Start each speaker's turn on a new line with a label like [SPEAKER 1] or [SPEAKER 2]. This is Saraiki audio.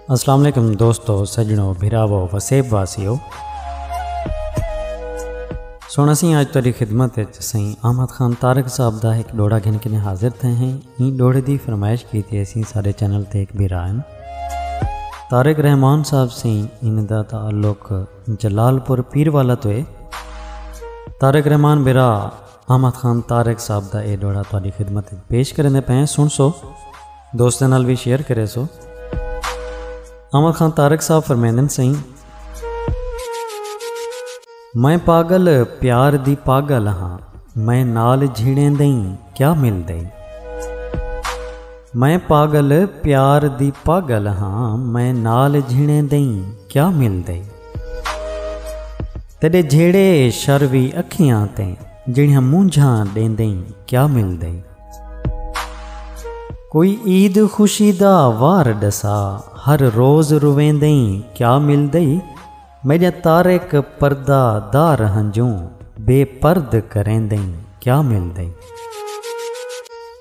[SPEAKER 1] السلام علیکم دوستو سجنو بھراو وسیب واسیو سونا سی آج تاری خدمت سی احمد خان تارک صاحب دا ایک ڈوڑا گھن کے حاضر تھے ہیں این ڈوڑے دی فرمائش کی تھی اسی سارے چینل تے ایک بھی رائن تارک رحمان صاحب سی ان دا تعلق جلال پور پیر والا تو ہے تارک رحمان برا احمد خان طارق صاحب دا اے ڈوہڑا تہاڈی خدمت وچ پیش کریندے پئے ہیں سنسو دوستاں نال وی شیئر کرے سو احمد خان طارق صاحب فرمیندن سئیں میں پاگل پیار دی پاگل ہاں میں نال جھیڑیں دئیں کیا مل دئیں میں پاگل پیار دی پاگل ہاں میں نال جھیڑیں دئیں کیا مل دئیں تیڈے جھیڑے شر وی اکھیاں تے جڑیاں مونجھاں ڈیندیں کیا ملدے کوئی عید خوشی دا وار ڈسا ہر روز رویندیں کیا ملدے میڈیاں تارک پردہ دار ہنجوں بے پرد کریندیں کیا ملدے۔